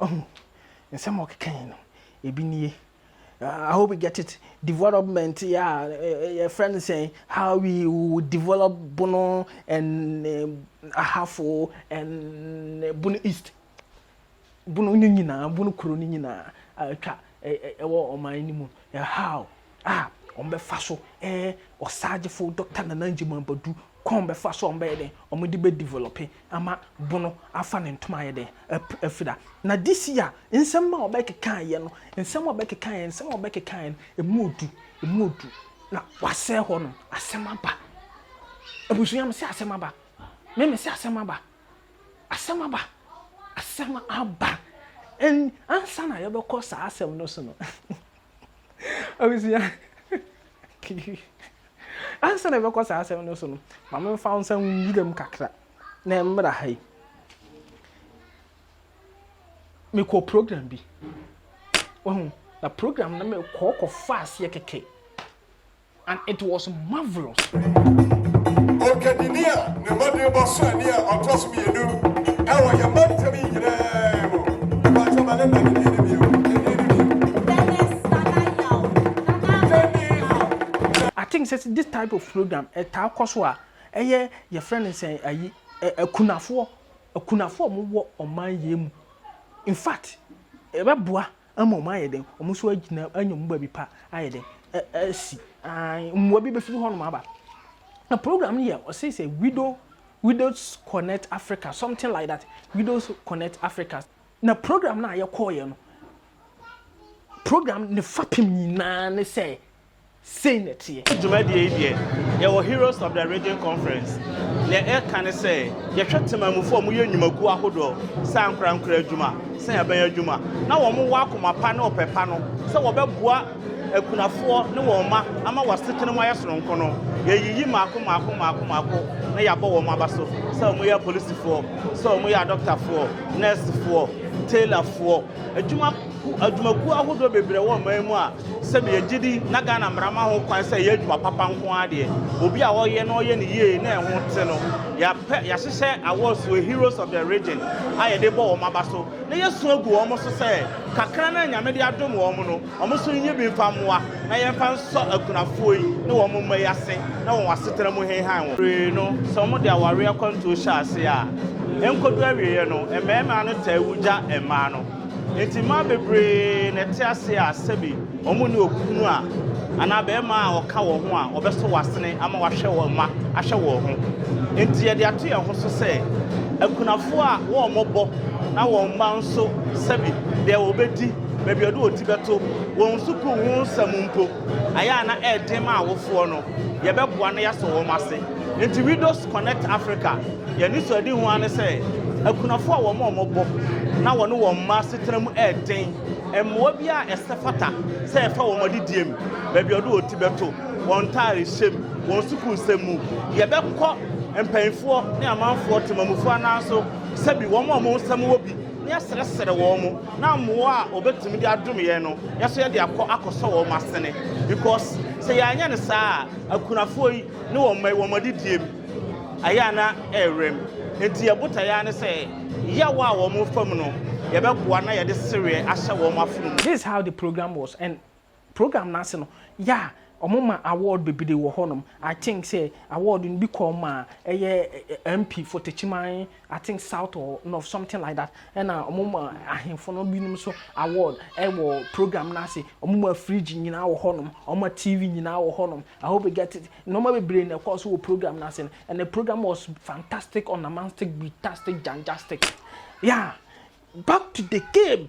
S1: Ɔhu? Nsɛm a ɔkeka yi no, ebi nie. I hope you get it. Development a yɛfrɛ no sɛn? How we develop Bono and eh, Ahafo and eh, Bono East. Bono no nyinaa, Bono kuro no nyinaa atwa ɛwɔ ɔman no mu, how a wɔbɛfa so ɛɛ ɔsagyefo Dɔkta Nana Ngyimah Badu kɔn bɛfa so a wɔbɛyɛ dɛn wɔde bɛ develop ama bono afa ne ntoma ayɛ dɛn afira. Na this year nsɛm ma wɔbɛkeka yɛ no, nsɛm a wɔbɛkeka yɛ, nsɛm a wɔbɛkeka yɛ no, emu odu, emu odu. Na wasɛe hɔ no, asɛm aba. Abusua, mese asɛm aba. Me mese asɛm aba. Asɛm aba! Asɛm aba! Ɛn, ansa na yɛbɛkɔ saa asɛm no so no, abusua, ansa na yɛbɛkɔ saa asɛm no so no, ma memfa wo nsa nwura mu kakra na ɛmmra ha yi. Mekɔ program bi, wahu, na program no mekɔ kɔfa aseɛ kɛkɛ. and it was marvellous.
S6: Okedini a ne mmɔden bɔ so ani a ɔtɔ so mmienu ɛwɔ yɛn mma ntɛm yi nyinaa mu. Ɛbɔ atwa ma ne nna ne
S1: din ne bio. I think sɛ this type of program ɛtaa kɔ so a ɛyɛ yɛfrɛ no sɛ ayi akunafoɔ akunafoɔ a wɔwɔ ɔman yɛn mu in fact ɛbɛboa Mmom ayɛ dɛn, wɔn nso agyina anya wɔn baabi pa ayɛ dɛn, asi. Aane, mmoa bi bɛfiri hɔnom aba. Na program no yɛ, ɔse sɛ Widow, Widows Connect Africa, something like that, Widows Connect Africa. Na program no a yɛkɔeɛ no, program no fapem nyinaa ne sɛ Sei na ɛteɛ. Dwumadie yi deɛ,
S7: yɛwɔ Heroes of the Region Conference. Deɛ ɛreka ne sɛ, yɛhwɛ temanmufoɔ a wɔyɛ nnwumakuo ahodoɔ sɛ ankorankora adwuma, sɛ aban adwuma, na wɔwɔ akoma pa ne ɔpɛ pa no sɛ wɔbɛboa akunafoɔ ne wɔn mma ama wɔn asetena mu ayɛ soronko no, yɛyiyi mmaako mmaako mmaako mmaako na yɛabɔ wɔn aba so sɛ wɔyɛ apolisifoɔ, sɛ wɔyɛ adɔktafoɔ, nɛɛsefoɔ, tailorfoɔ, Adwuma ku adwumakuo ahodoɔ bebree wɔ ɔman mu a sɛbi yɛgye di na Ghana mmara ma ho kwan sɛ ɛyɛ adwuma papa nko ara deɛ. Obi a ɔyɛ na ɔyɛ ne yie na ɛho te no, yɛapɛ yɛahyehyɛ awards wɔ Heroes of the Region a yɛde bɔ wɔn aba so na yɛasu agu wɔn so sɛ kakra no a Nyame de adom wɔn no, Wɔn nso nnye bi mfa mmoa, na yɛmfa nsɔ akunafoɔ yi ne wɔn mma yi ase na wɔn asetena mu nhenhan wɔn. Pii no, sɛ wɔde awareɛ akwantuo hyɛ aseɛ a, ɛnkɔdu awieeɛ no, mmarima no taa wu gya mmaa no. Enti mmaa bebree na ɛte ase a sɛbi wɔnni okunu a anaa barima a ɔka wɔn ho a ɔbɛsɔ wɔn asene ama wɔahwɛ wɔn mma ahwɛ wɔn ho. Enti yɛde ato yɛn ho so sɛ akunafoɔ a wɔmmɔbɔ na wɔn mma nso sɛbi deɛ wɔbɛdi baabi a ɔde wɔn ti bɛto, wɔn sukuu ho nsɛm mpo, ayɛ a na ɛyɛ den ma awofoɔ no, yɛbɛboa na yɛasɔ wɔn ase. Enti Widows Connect Africa, yɛn anisoadehu ara ne sɛ, akunafoɔ a wɔn a wɔbɔ na wɔne wɔn mma asetena mu yɛ den, mmoa biara a ɛsɛ fata sɛ yɛfa wɔn adidiem, baabi a ɔde wɔn ti bɛto, wɔn ntaarehyɛm, wɔn sukuusɛm mu. Yɛbɛkɔ mpanimfoɔ ne amanfoɔ, temamufoɔ ananso sɛ bi wɔn a wɔn nsɛm wɔ bi. na yɛasrɛsrɛ wɔn, na mmoa a wɔbɛtumi de adom yɛn no, yɛn nso yɛde akɔ akɔsɔ wɔn asene. Because sɛ yɛanyɛ no saa a, akunafoɔ yi ne wɔn mma yi, wɔn adidie mu ayɛ a na ɛrewura mu. Enti yɛn botaeɛ ara ne sɛ, yaw a wɔrefa mu no, yɛbɛboa na yɛde sereɛ ahyɛ wɔn afono mu. This is how the program
S1: was and Program no ase no, yeah, wɔma award bebree wɔ hɔnom. I think sɛ award no bi kɔɔ maa ɛyɛ MP for Techiman, I think South or North, something like that. Ɛna wɔma ahemfo no binom nso award wɔ program no ase. Wɔma fridge nyinaa wɔ hɔnom, wɔma TV nyinaa wɔ hɔnom. I hope you get it. Nneɛma bebree na ɛkɔɔ so wɔ program no ase no, and the program was fantastic, ornamantic, beatastic, janjastic. Yeah, back to the game.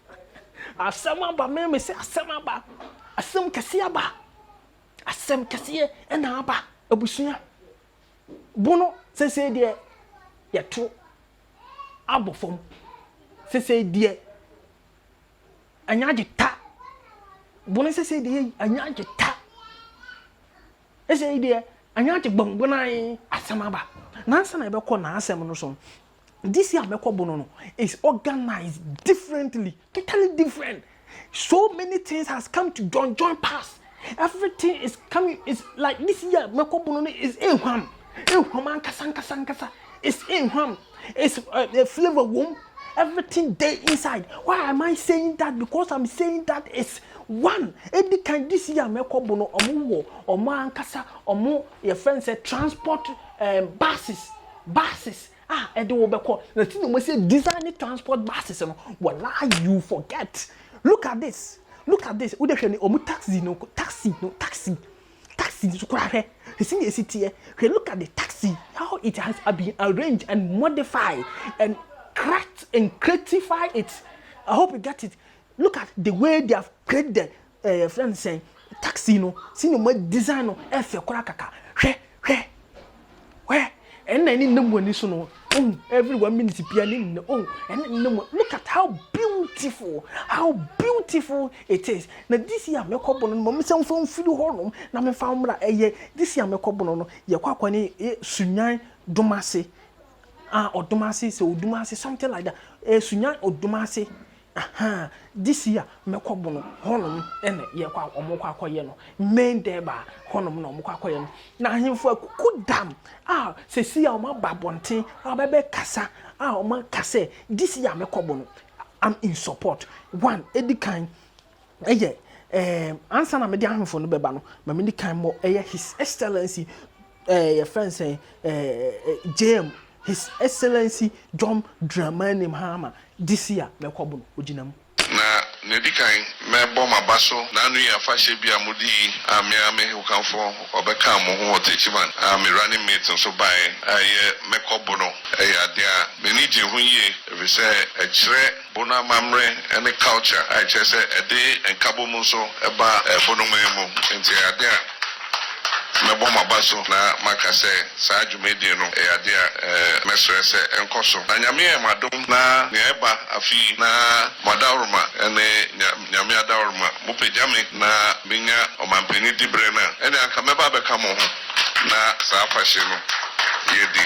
S1: Asɛm aba, me mese asɛm aba, asɛm kɛseɛ aba, asɛm kɛseɛ ɛna aba abusua. Bono sesei deɛ yɛto abɔ fam, sesei deɛ ɛnyɛ agye ta, bono sesei deɛ ɛnyɛ agye ta, sesei deɛ ɛnyɛ agye gbɔngbɔnan asɛm aba. Nansa na yɛbɛkɔ n'asɛm no so, This year mɛkɔ bono no is organized differently totally different so many things has come to join join pass everything is coming is like this year mɛkɔ bono no is ehwam ehwam ankasa ankasa ankasa is ehwam is uh, eh, eh, flavor wom everything dey inside why am I saying that because I'm saying that is one edi kan this year mɛkɔ bono ɔmo wɔ ɔmo ankasa ɔmo yɛ fɛn sɛ transport um, buses buses. a ɛde wo bɛkɔ na ti na wɔn sɛ design transport buses no wɔla you forget look at this look at this wode hwɛ ne wɔn taxi no taxi no taxi taxi nso koraa hwɛ esi na esi teɛ hwɛ look at the taxi how it has been arranged and modified and cracked and creatify it i hope you get it look at the way they have created the Eh yɛfrɛ no sɛn taxi no sɛnea ɔma design no ɛfɛ koraa kaka hwɛ hwɛ hwɛ ɛnna ɛne nam wɔ ani so no oh every one minute bia ne nna oh ɛne nam look at how beautiful how beautiful it is na this year mɛkɔ bono no ma mesɛ mfa mfiri hɔ nom na memfa mmra ɛyɛ this year mɛkɔ bono no yɛkɔ akɔ ne eh, sunyan dom ase ah ɔdom ase sɛ ɔdom ase something like that eh, sunyan ɔdom ase Ahaa this year mɛkɔ bono hɔnom na yɛkɔ a wɔn kɔ akɔyɛ no main dɛɛba hɔnom na wɔn kɔ akɔyɛ no na ahemfo akuku dam a sɛsi a wɔn aba abɔnten a wɔbɛbɛ kasa a wɔn aka sɛ this year mɛkɔ bono am in support one edi kan ɛyɛ ɛɛm ansa na mede ahemfo no bɛba no ma medi kan mmɔ ɛyɛ his excellency ɛɛ yɛfrɛ no sɛn ɛɛ jm his excellency john dramani mahama this year mɛkɔbo no ogyina mu. Na nea
S8: edi kan mɛbɔ m'aba so n'anoyi afahyɛ bi a mode yi a me ara me hokanfo ɔbɛkaa mo ho ɔtakyiman a me running mate nso baeɛ a ɛyɛ mɛkɔbo no ɛyɛ adeɛ a m'ani gye ho yie efisɛ ɛkyerɛ Bo no amammerɛ ne culture a ɛkyerɛ sɛ ɛde nkabom nso ba bo no man mu nti ɛyɛ adeɛ a mɛbɔ m'aba so na maka sɛ saa dwumadie no ɛyɛ adeɛ a mɛsrɛ sɛ ɛnkɔ so na Nyame ayɛ mo adom na nea ɛba afe yi na mo adaworoma ne Nyame adaworoma mo pagya me na menya ɔmanpanin diberɛ no a ɛnneɛ anka mɛba abɛka mo ho na saa afahye no yɛdi.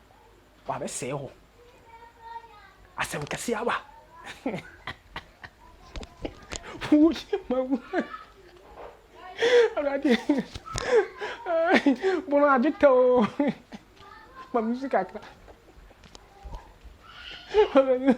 S1: wabɛsɛe hɔ asɛm kɛse aba woyɛ ma wu awurade bono agye tɛ o ma me si kakra awurade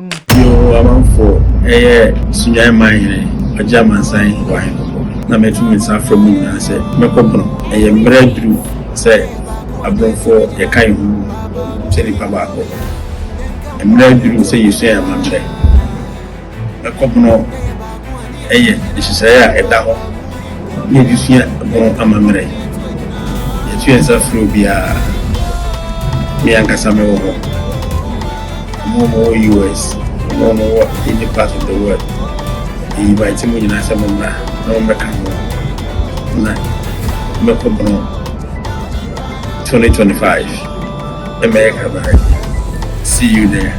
S1: Bio, amanfoɔ
S9: yɛ Sunyan man hene, ɔgye amansan wɔ ahenkɔkɔ, na matu me nsa afrɛ mo nyinaa sɛ mɛkɔ pono. Ɛyɛ mmerɛ aduru sɛ aborɔfoɔ yɛka yɛn ho sɛ nnipa baako. Mmerɛ aduru sɛ yɛsua yɛn amammerɛ. Mɛkɔ pono. Ɛyɛ nhyehyɛe a ɛda hɔ na yɛde sua ho amammerɛ. Yɛatu yɛn nsa afrɛ obiara. Me ankasa mewɔ hɔ. Wɔn a wɔwɔ US, wɔn a wɔwɔ any part of the world, yɛinvite mo nyinaa sɛ mommra na mommɛka ho na mɛkɔbɔn 2025. America bɛhwɛ. See you there.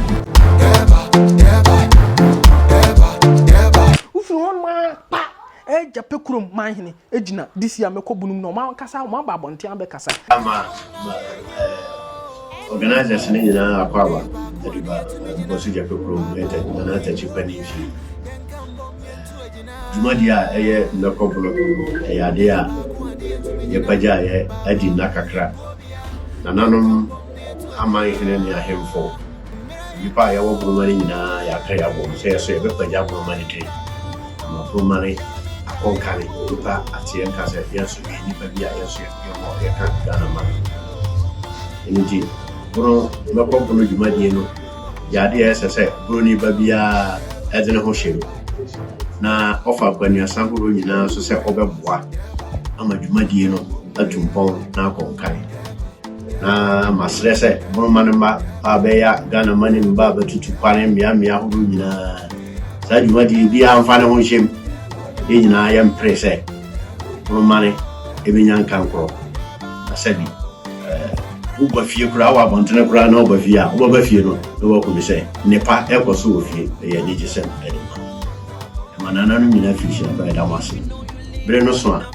S1: wofiri hɔ noma pa agya pɛ kurom man hene gyina disi a mɛkɔ bunum na ɔma kasa ɔma ba abɔnten abɛkasa. ama eh,
S10: organisers no nyinaa akɔ aba aduba nkɔso gya pɛ kurom ɛtɛ nana atakyi pa ne mfie Dwumadi a ɛyɛ nnɛ kɔ bo no yɛ ade a yɛpagyaeɛ adi nna kakra. Nananom amanhene ne ahemfo, nnipa a yɛwɔ boroma no nyinaa yɛaka yɛn abom sɛ yɛso yɛbɛpagya boroma no din ama boroma no akɔ nka ne nnipa ate yɛn nka sɛ yɛn nso yɛ nnipa bi a yɛn nso yɛwɔ yɛka Ghana man. Ɛno nti, bono mɛkɔ bono dwumadie no yɛ ade a ɛsɛ sɛ Buroni ba biara de ne ho hyɛ mu, na ɔfa akwannuasa horow nyinaa so sɛ ɔbɛboa ama dwumadie no atu mpɔn na akɔ nkan. Na masrɛ sɛ Boroma no mma a bɛya Ghana ma ne mma a bɛtutu kwane mmeammea horow nyinaa saa dwumadie biara mfa ne ho nhyɛ mu. Yɛn nyinaa yɛmpere sɛ Ɔbɛmane ɛbɛnya nkankorɔ. Na sɛbi eh, woba fie koraa, wɔ abɔntene koraa na woba fie a, wobɛba fie no na woakumi sɛ nnepa ɛkɔ so wɔ fie. Ɛyɛ anigye sɛm ɛde ma. Ɛma nana no nyina firi hyia bra ɛda mo ase. Bere no so a,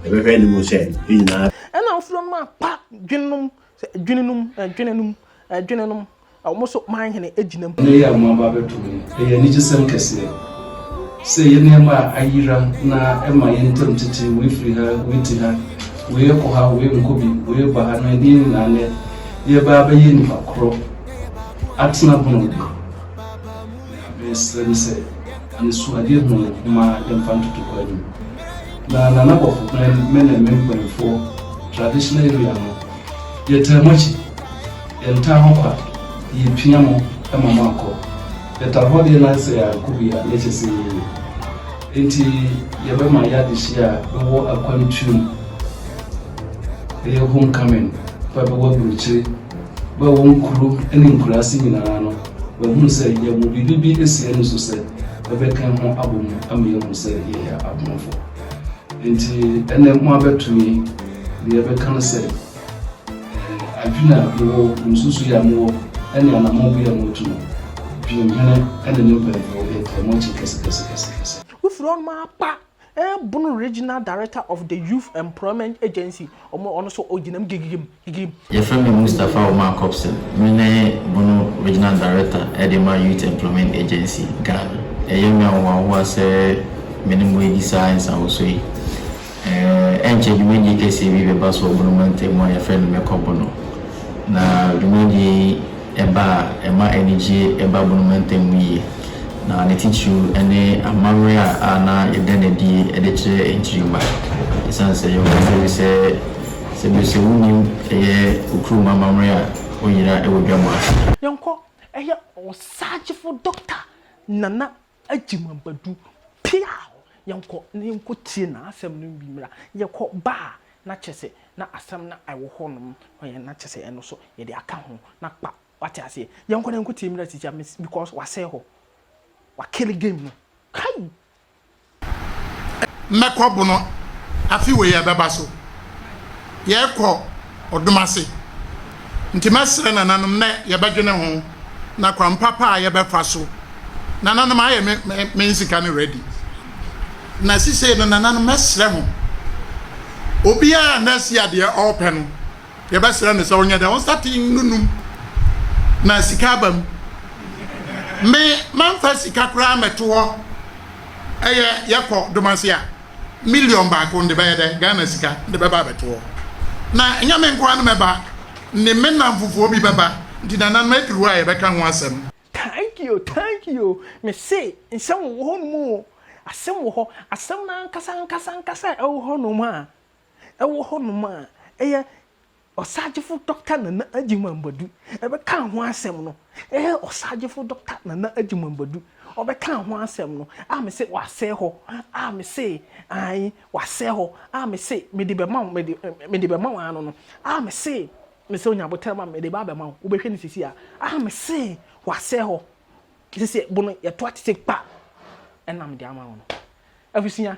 S10: yɛbɛhwɛ anim sɛ yɛn nyinaa. Ɛna wofiri nom
S1: apa dwenom Sɛ adwene no mu, adwene no mu, adwene no mu, wɔn nso man hene agyina mu. Nnɛ yi a wɔaba abɛto
S11: mu yi, ɛyɛ anigyesɛm kɛseɛ sɛ ɛyɛ nneɛma a ayera na ɛma yɛn ntam tete, wei firi ha, wei te ha, wei kɔ ha, wei nkɔ bi, wei reba ha, na ɛdeɛn nyinaa nnɛ yɛreba abɛyɛ nnipa korɔ atena bɔn bi. Na mesrɛ no sɛ anisoadeɛ ho nhoma yɛmfa ntoto hɔ anim. Na Nana Bɔfo Glen me ne me mpanyinfoɔ traditional area no yɛtaa mo akyi, yɛntaa hɔ kwa, yɛpia mo ma mo akɔ. Yɛtaa hɔ deɛ na sɛ yɛankɔ bi a na ɛkyɛ sɛ yɛyɛ yie. Nti yɛbɛma yɛ adehyeɛ a bɛwɔ akwantuo mu, ɛyɛ home coming, fa bɛwɔ aburokyire. Wɔ ɛwɔ nkuro ne nkuraase nyinaa no, wɔahunu sɛ yɛwɔ biribi bi asi ani so sɛ ɛbɛka ho abɔ mu ama yɛahu sɛ yɛyɛ aborɔfo. Nti ɛnɛ mo abɛto yi deɛ ɛbɛka no sɛ eh, adwene a mowɔ, nsusu a mowɔ, ɛne anamɔbi a motu no, dwenhene ɛne ne mpanyinfoɔ yɛ tɛmɔkye kɛsekɛsekɛsekɛse. Wofiri ɔnom
S1: apa Ɛɛbono Regional Director of the Youth Employment Agency, ɔmo ɔno nso ɔgyina mu gigigim gigigim. Yɛfrɛ me
S12: Mustapha Omar Kobson, me ne Bono Regional Director de ma Youth Employment Agency, Ghana. Ɛyɛ me ahohoahoa sɛ me ne mo redi saa nsawoso yi. Ɛnkyɛ dwumadie kɛseɛ bi bɛba so wɔ Bono mantam mu a yɛfrɛ no Mɛkɔ Bono. Na dwumadie yi ba a, ɛma anigye ba bɔn mu ntɛm mu yie, na ne titiriw ne amammerɛ a a na yɛda no adi de kyerɛ nkyirimma. Esiane sɛ yɛwɔ nokware bi sɛ, sɛ bere sɛ wunim ɛyɛ okurum amammerɛ a, woyera wɔ dwam ase. Yɛnkɔ,
S1: ɛyɛ ɔsagyefo Dɔkta Nana Agye mu aba du. Piaw! Yɛnkɔ na yɛnkɔtie n'asɛm no bi mmra. Yɛkɔ ba a, na kyerɛ sɛ na asɛm no a ɛwɔ hɔnom ma yɛn no, na kyerɛ sɛ ɛno nso yɛde aka ho na kpa. Woate aseɛ? Yɛnkɔ na yɛnkɔtie mmra sisi a mese because wasɛe hɔ. Wakele game no. Kai!
S5: Mɛkɔ bono afe wei a ɛbɛba so. Yɛkɔ. ɔdom ase. Ntsi mɛserɛ nananom na yɛbɛdwen ho na kwan papa a yɛbɛfa so. Nananom, ayɛ me me me nsika no ready. Na sesei no, nananom, mɛserɛ mo, obiara a na sia deɛ ɔrepɛ no, yɛbɛserɛ no sɛ ɔnyɛ dɛn, ɔnsate nnunum na sika aba mu. Me, mamfa sika koraa mmɛto hɔ. Ɛyɛ, yɛkɔ dom ase a? million baako de bɛyɛ dɛ Ghana sika de bɛba abɛto hɔ na ɛnyɛ me nkoa na mɛba ne me nnamfofoɔ bi bɛba nti nananom aduru a yɛbɛka ho asɛm. Thank you thank
S1: you me se nsɛm wɔ hɔ nom oo asɛm wɔ hɔ asɛm no ankasa ankasa ankasa a ɛwɔ hɔ nom a ɛwɔ hɔ nom a ɛyɛ Ɔsaagyefo Dɔkta Nana Agyemang Badu bɛkaa ho asɛm no eh Ɔsaagyefo Dɔkta Nana Agyemang Badu ɔbɛkaa ho asɛm no ah me se wasɛe hɔ ah me se ae wasɛe hɔ ah me se mede bɛma wo mede mede bɛma wo ano no ah me se me se onya boterɛ ma mede ba abɛma wo wobɛhwɛ no sisi a ah me se wasɛe hɔ sisi bo no yɛtoa tete kpa ɛna mede ama wo no abusua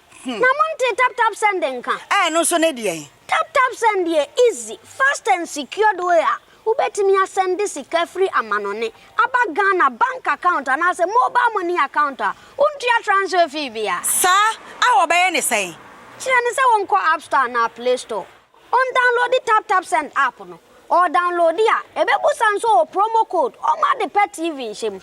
S13: Na montee tap tap send nka? Ɛɛ ɛno nso ne deɛn?
S14: Tap tap send yɛ
S13: easy, fast and secured way a wobɛtumi asɛnde sika firi amanɔne aba Ghana bank account anaasɛ mobile money account a wontua transfer fee biara. Saa a
S14: wɔbɛyɛ ne sɛn? Kyerɛ no sɛ wɔnkɔ
S13: app store anaa play store, ɔndownloadi tap tap send app no, ɔɔdownloadi a ɛbɛbusa nso ɔɔ promo code ɔmma ade pa TV nhyɛ mu.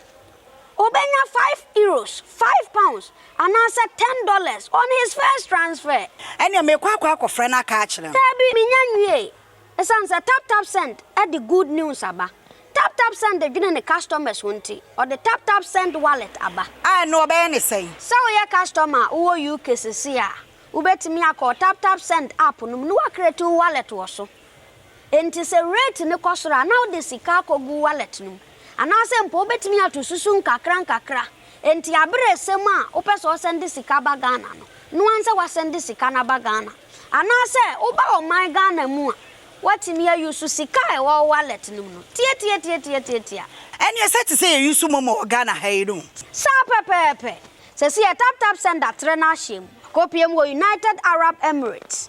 S13: Obenya five euros, five pounds, anaasɛ ten dollars on his first transfer. Ɛnneɛ mekɔ akɔ
S14: akɔfrɛ no aka akyerɛ no. Daabi, mennya nwiei.
S13: Esiane sɛ TapTapSend de good news aba, TapTapSend dwene ne customers ho nti, ɔde TapTapSend Wallet aba. A, ɛnneɛ wɔbɛyɛ no
S14: sɛn? Sɛ woyɛ customer
S13: a wowɔ UK seesei a, wobɛtumi akɔ TapTapSend app no mu na woacreate wo wallet wɔ so. Enti sɛ rate no kɔ soro a, na wode sika akɔgu wallet no mu. Anaasɛ mpo wobɛtumi ato susu nkakrankakra. Enti aberɛ resɛm a wopɛ sɛ ɔsɛnde sika ba Ghana no, noa nsɛ wasɛnde sika no aba Ghana. Anaasɛ woba ɔman Ghana mu a, woatumi a use sika a ɛwɔ wo wallet no mu no. Tiatiatiatiatiatia. Ɛneɛ sɛ
S14: te sɛ yɛ use momo wɔ Ghana ha yi no. Saa pɛpɛɛpɛ.
S13: Sɛsi yɛ taptapsend atrɛ no ahyɛm. Akɔpie mu wɔ United Arab Emirates.